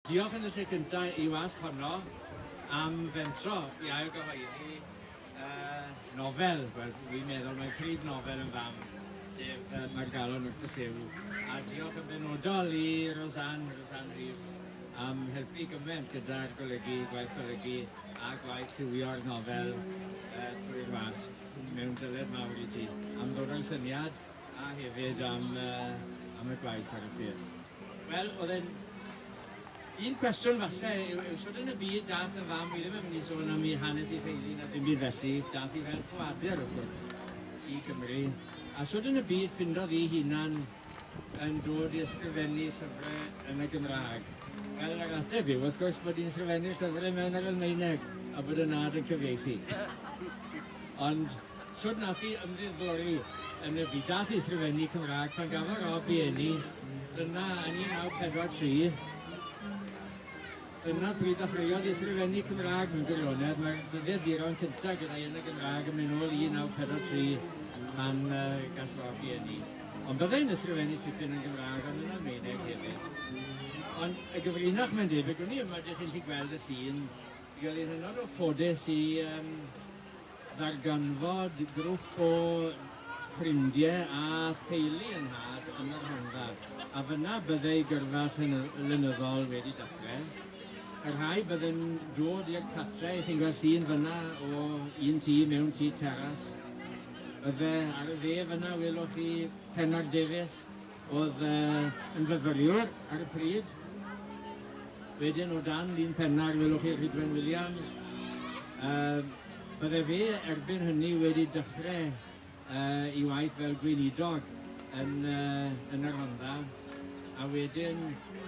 Diolch yn y lle cyntaf i wasg honno am fentro i ail gyhoeddi y nofel, wel dwi'n meddwl mae'n prif nofel yn fam, sef y Mae'r Galon wrth y Llyw, a diolch yn benodol i Rosanne, Rosanne Reeves, am helpu gymaint gyda'r golygu, gwaith golygu a gwaith lliwio'r nofel uh, trwy'r wasg. Mewn dyled mawr i ti am ddod o'i syniad A hefyd am, uh, am y gwaith ar y pryd. Wel, oedd e'n... Un cwestiwn falle yw, yw sut yn y byd dath y fam, wi ddim yn mynd i sôn am i hanes i theulu na dim byd felly, dath i fel ffoadur wrth gwrs i Gymru. A sut yn y byd ffindodd i hunan yn dod i ysgrifennu llyfrau yn y Gymraeg? Wel, yr ateb yw, wrth gwrs, bod i'n sgrifennu llyfrau mewn yr Almaeneg a bod y nad yn cyfieithu. Ond Shwt nath chi ymddiddori yn y byd a'th ysgrifennu Cymraeg pan gafodd Rob i eni yna yn 1943? Dyna pryd ddechreuodd i ysgrifennu Cymraeg mewn gwirionedd, mae'r dyddiaduron cyntaf gyda'i yn y Gymraeg yn mynd nôl i 1943 pan gas Rob i eni. Ond byddai'n ysgrifennu tipyn yn Gymraeg ond yn Almaeneg hefyd. Ond y gyfrinach mae'n debyg, wn i yma dych chi'n gallu gweld y llun, mi oedd hi'n hynod o ffodus i Darganfod grwp o ffrindie a theulu yng nhad yn y Rhondda, a fyna bydde ei gyrfa llenyddol wedi dachre. Y rhai bydde'n dod i'r catre, chi'n gweld llun fyna o un tŷ mewn tŷ teras. Bydde ar y dde fyna welwch chi Penarddefus, Oedd yn fyfyriwr ar y pryd. Wedyn o dan lun penna'r welwch chi Rhydwen Williams. Uh, bydde fe erbyn hynny wedi dechrau uh, i waith fel gweinidog yn, uh, yn y Rhondda. A wedyn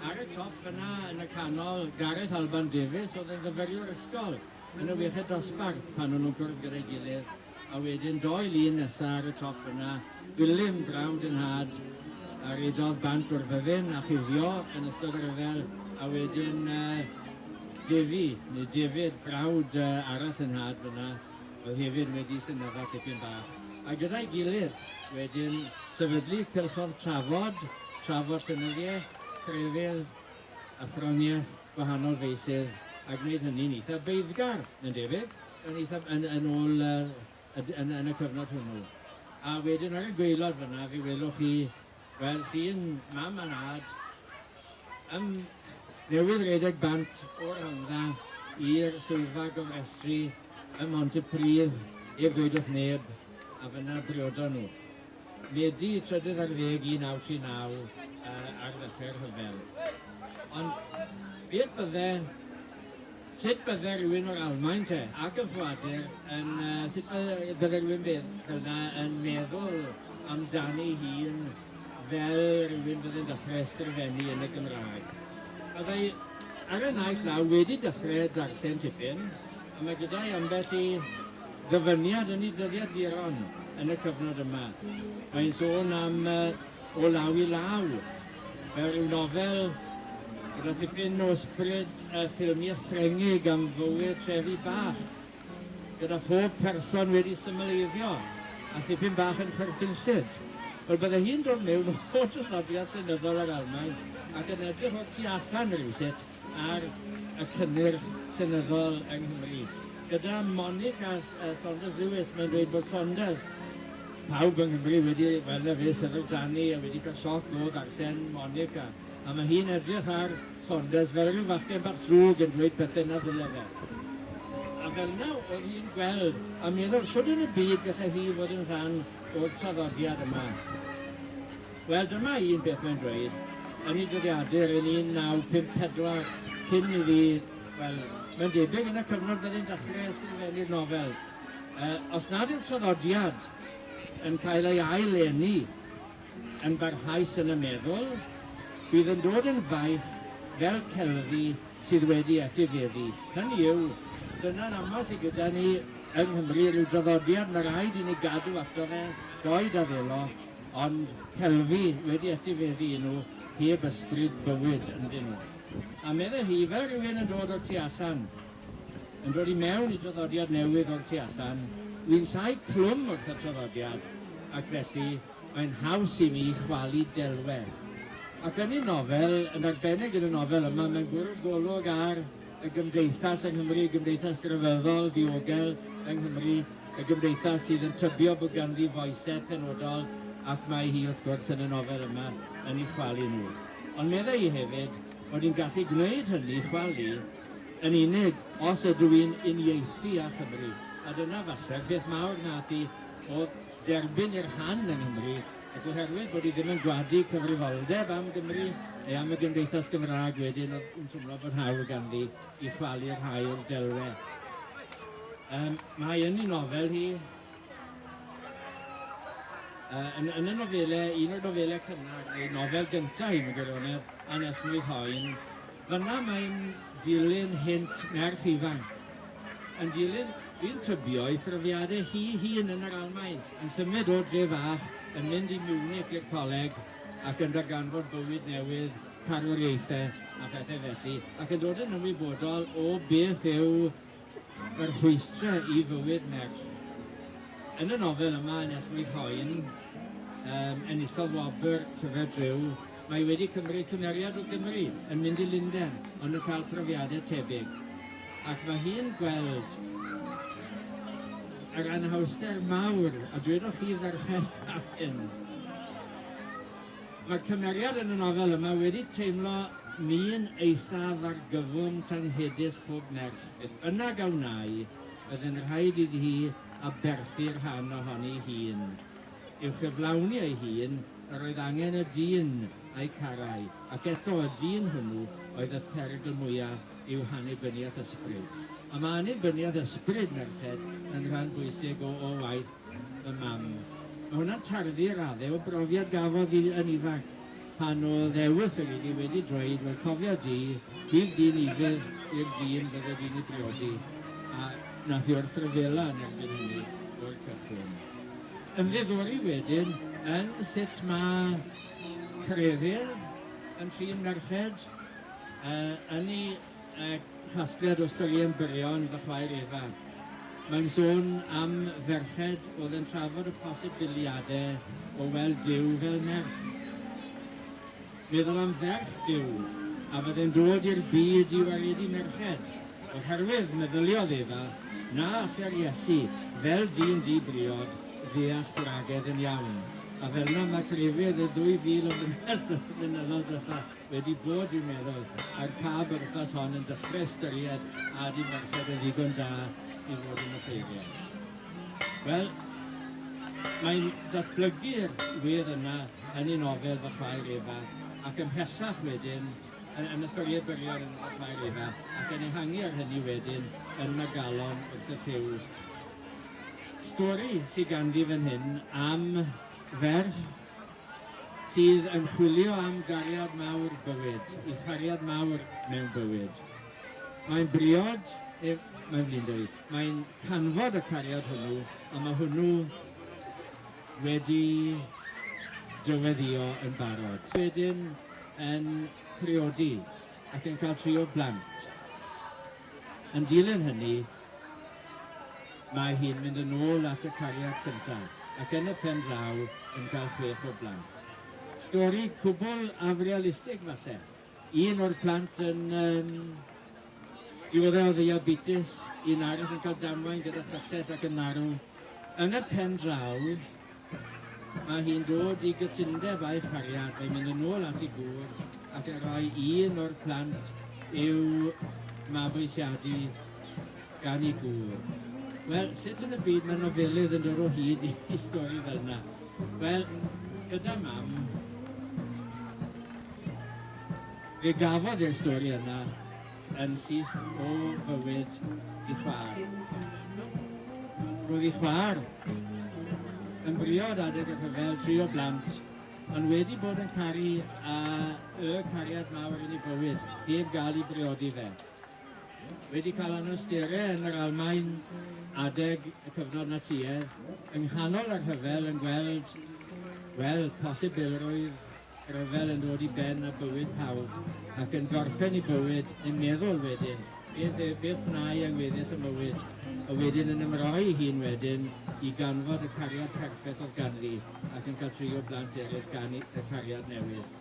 ar y top fyna yn y canol Gareth Alban Davies oedd yn fyfyriwr ysgol yn y wiechyd dosbarth pan o'n nhw'n cwrdd gyda'i gilydd. A wedyn doi lun nesa ar y top yna, Gwilym, brawd yn nhad, a rydodd bant o'r fyddin a chuddio yn ystod y rhyfel, a wedyn yy Defi, neu David, brawd yy arall yn nhad fyna, oedd hefyd wedi synydda tipyn bach. A gyda'i gilydd, wedyn, sefydlu cylchodd trafod, trafod llenyddiaeth, crefydd, athroniaeth, gwahanol feysydd a gwneud hynny'n eitha' beiddgar, mae'n debyg, yn eitha'... yn yn ôl y y d- yn yn y cyfnod hwnnw. A wedyn ar y gwaelod fan'na fe welwch chi, wel, llun mam a nhad yn newydd redeg bant o'r Rhondda i'r swyddfa gofrestru ym Mhontypridd, heb ddweud wrth neb, a fan'na briodon nhw. Medi, trydydd ar ddeg 1939 ar ddechrau'r rhyfel. Ond beth bydde, sut bydde rhywun o'r Almaen te, ac yn ffoadur, yn, sut bydde rhywun fel yna yn meddwl amdani hun fel rhywun bydde'n dechrau ysgrifennu yn y Gymraeg. Byddai ar y naill law wedi dechrau darllen tipyn, Mae gyda'i ambell i ddyfyniad yn ei dyddiaduron yn y cyfnod yma. Mae'n sôn am uh, O Law i Law, fel rhyw nofel gyda dipyn o sbryd y ffilmiau Ffrengig am fywyd trefi bach, gyda phob person wedi symleiddio a thipyn bach yn chwerthinllyd. Wel, bydde hi'n dod mewn o traddodiad llenyddol yr Almaen ac yn edrych o'r tu allan rhywsut ar y cynnyrch llenyddol yng Nghymru. Gyda Monica Saunders Lewis, mae'n dweud bod Saunders, pawb yng Nghymru wedi weld e fis ar y Danny a wedi cael sioc o ddarllen Monica, a mae hi'n edrych ar Saunders fel rhyw fachgen bach drwg yn dweud pethau na ddyle fe. A fel 'na oedd hi'n gweld a meddwl shwd yn y byd gallai hi fod yn rhan o'r traddodiad yma. Wel, dyma un peth mae'n dweud, yn ei dyddiadur yn 1954, cyn iddi, wel, mae'n debyg yn y cyfnod bydde'n dechrau ysgrifennu'r nofel, Yy, os nad yw'r traddodiad yn cael ei ail-eni yn barhaus yn y meddwl, bydd yn dod yn faich fel celfi sydd wedi etifeddu. Hynny yw, dyna'n aml sydd gyda ni yng Nghymru, rhyw draddodiad, mae rhaid i ni gadw ato fe, doed a ddelo, Ond celfi wedi etifeddu i nhw heb ysbryd bywyd ynddyn nhw. A meddai hi, fel rhywun yn dod o'r tu allan, yn dod i mewn i draddodiad newydd o'r tu allan, wi'n llai clwm wrth y traddodiad ac felly mae'n haws i mi chwalu delwedd. Ac yn ei nofel, yn arbennig yn y nofel yma, mae'n bwrw golwg ar y gymdeithas yng Nghymru, y gymdeithas grefyddol, ddiogel yng Nghymru, y gymdeithas sydd yn tybio bod ganddi foesedd penodol ac mae hi wrth gwrs yn y nofel yma yn ei chwalu nhw. Ond meddai hi hefyd bod hi'n gallu gwneud hynny, chwalu, yn unig os ydw i'n uniaethu â Chymru. A dyna falle peth mawr nath i oedd derbyn i'r rhan yng Nghymru Ac oherwydd bod hi ddim yn gwadu cyfrifoldeb am Gymru neu am y Gymdeithas Gymraeg wedyn oedd yn teimlo bod hawl ganddi i chwalu rhai o'r delwedd. Um, mae yn ei nofel hi, uh, yn, yn y nofelau, un o'r nofelau cynnar, neu nofel gyntaf hi, yn gwirionedd, anesmwyth hoen, Fan'na mae'n dilyn hynt merch ifanc yn dilyn un tybio ei phrofiadau hi hun yn yr Almaen, yn symud o dre fach, yn mynd i Munich i'r coleg ac yn darganfod bywyd newydd, carwriaethau a phethau felly, ac yn dod yn ymwybodol o beth yw Mae'r rhwystrau i fywyd merch yn y nofel yma yn Esmwyth Hoen, um, enillodd wobr Tyfed Rhyw, mae wedi cymryd cymeriad o Gymru yn mynd i Lundain ond yn cael profiadau tebyg. Ac mae hi'n gweld yr anhawster mawr, a dwedoch chi ferched am hyn, Mae'r cymeriad yn y nofel yma wedi teimlo mi'n eithaf argyfwng tanghedus pob merch, beth bynnag a wnâi, byddai'n rhaid iddi hi aberthu rhan ohoni'i hun. I'w chyflawni ei hun, yr oedd angen y dyn a'i carai, ac eto y dyn hwnnw oedd y pherygl mwyaf i'w hannibyniaeth ysbryd. A mae annibyniaeth ysbryd merched yn rhan bwysig o o waith y mam. Mae hwnna'n tarddu i raddau o brofiad gafodd hi yn ifanc, pan oedd e wyth ag iddi wedi dweud, wel cofia di, bydd di'n ifydd i'r dyn fydde di'n ei briodi, a wnaeth hi wrthryfela yn erbyn hynny o'r cychwyn. Ymddiddori wedyn yn sut mae crefydd yn trin merched, yn ei Y casgliad o straeon byrion fy chwaer Efa. Mae'n sôn am ferched oedd yn trafod y posibiliadau o weld Duw fel merch. Meddwl am ferch Duw a fydde'n dod i'r byd i waredu merched, oherwydd meddyliodd Efa na alla'r Iesu, fel dyn di-briod, ddeall gwragedd yn iawn. A fel'na mae crefydd y 2,000 o flynyddoedd diwetha'. Wedi bod, dwi'n meddwl, er pa bwrpas hon, yn dechrau ystyried a di merched yn ddigon da i fod yn offeiriad. Wel, mae'n datblygu'r wir yna yn ei nofel Fy Chwaer Efa ac ymhellach wedyn yn, yn y storied byrion yn Fy Chwaer Efa ac yn ehangu ar hynny wedyn yn Magalon wrth y Llyw. Stori sydd ganddi fan hyn am ferch Sydd yn chwilio am gariad mawr bywyd, i chariad mawr mewn bywyd. Mae'n briod, neu mae'n flindwy, mae'n canfod y cariad hwnnw, a mae hwnnw wedi dyweddïo yn barod. Wedyn yn priodi ac yn cael tri o blant. Yn dilyn hynny, Mae hi'n mynd yn ôl at y cariad cynta, ac yn y pen draw yn cael chwech o blant. Stori cwbl afrealistig falle. Un o'r plant yn um, diodde o ddiabetes, un arall yn cael damwain gyda chyllell ac yn marw. Yn y pen draw, Mae hi'n dod i gytundeb â'i chariad, mae'n mynd yn ôl at ei gŵr ac yn rhoi un o'r plant i'w mabwysiadu gan ei gŵr. Wel, sut yn y byd mae nofelydd yn dod o hyd i stori fel yna? Wel, gyda mam, fe gafodd e'r stori yna yn syth o fywyd ei chwaer. Roedd ei chwaer yn briod adeg y rhyfel tri o blant, ond wedi bod yn caru a y cariad mawr yn ei bywyd, heb gael ei briodi fe. Wedi cael anawsterau yn yr Almaen adeg y cyfnod Natsïedd, yng nghanol y rhyfel yn gweld, wel, posibilrwydd Rhyfel yn dod i ben a bywyd pawb, ac yn gorffen i bywyd, yn meddwl wedyn, beth, e, beth wnai ag weddill y mywyd, a wedyn yn ymroi ei hun wedyn i ganfod y cariad perffaith oedd ganddi, ac yn cael trio blant eraill gan y cariad newydd.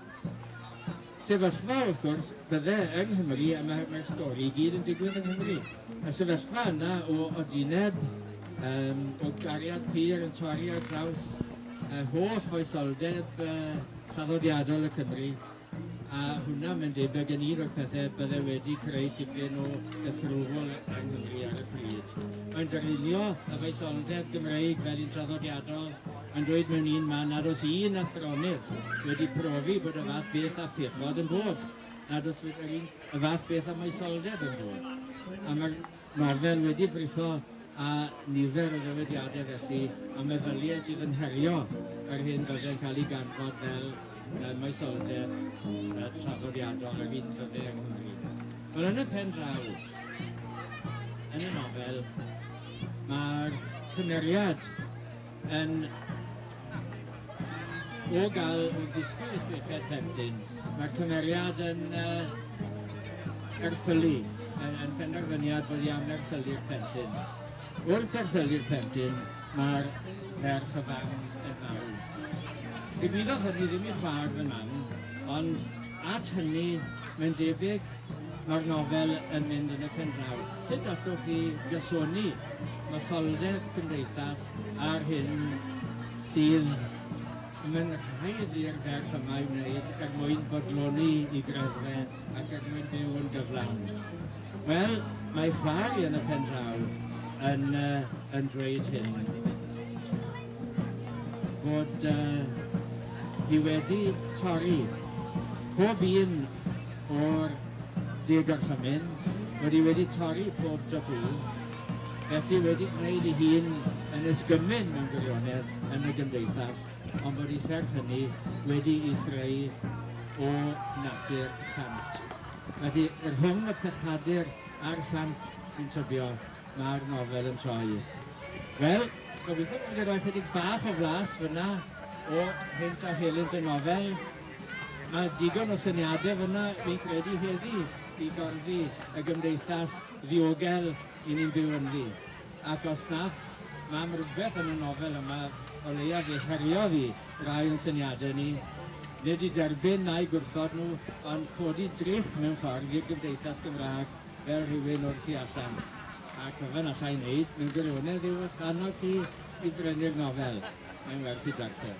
Sefyllfa, wrth gwrs, bydde yng Nghymru, a mae'r mae stori i gyd yn digwydd yng Nghymru, y sefyllfa yna o odineb, um, o gariad pur yn torri ar draws yr holl foesoldeb traddodiadol y Cymry, a hwnna mae'n debygg yn un o'r pethau byddai wedi creu tipyn o gythrwfl yng Nghymru ar y pryd. Mae'n darlunio y foesoldeb Gymreig fel un traddodiadol, mae'n dweud mewn un man nad oes un athronydd wedi profi bod y fath beth a phechod yn bod, nad oes yr un y fath beth a moesoldeb yn bod. A mae'r Mae fel wedi brifo a nifer o ddywediadau felly a meddyliau sydd yn herio yr hyn byddai'n cael ei ganfod fel uh, moesoldeb uh, traddodiadol yr hyn byddai yng Nghymru. Wel, yn y pen draw, yn y nofel, mae'r cymeriad Yn o gael o ddisgwyl i chweched plentyn, mae'r cymeriad yn uh, erthylu, yn, yn penderfyniad bod i am erthylu'r plentyn. Wrth erthylu'r plentyn, mae'r ferch y fam yn marw. Digwyddodd hynny ddim i'r fawr fy mam, ond At hynny, mae'n debyg, mae'r nofel yn mynd yn y pendraw. Sut allwch chi gysoni masoldeb cymdeithas â'r hyn sydd y mae'n rhaid i'r ferch yma ei wneud er mwyn bodloni i greddfe ac er mwyn byw yn gyflawn? Wel, mae Chwari yn y pendraw yn, yn dweud hyn. fod uh, hi wedi torri pob un o'r diogorchymyn, fod hi wedi torri pob dopw, felly wedi gwneud ei hun yn ysgymyn mewn gwirionedd yn y gymdeithas, ond bod hi serth hynny wedi ei threu o natur sant. Felly, rhwng y pechadur a'r sant, fi'n tybio Mae'r nofel yn troi. Wel, gobeithio bod wedi rhoi chydig bach o flas fyna o hynt a helynt y nofel. Mae digon o syniadau fyna, fi'n credu, heddi i gorddi y gymdeithas ddiogel i ni'n byw ynddi. Ac os nad, mae am rhywbeth yn y nofel yma o leiaf fe heriodd i rai o'n syniadau ni, nid i derbyn na'i gwrthod nhw, ond codi drych mewn ffordd i'r gymdeithas Gymraeg fel rhywun o'r tu allan, ac fel allai wneud mewn gwirionedd yw eich annog chi i brynu'r nofel, mae'n werth ei darllen.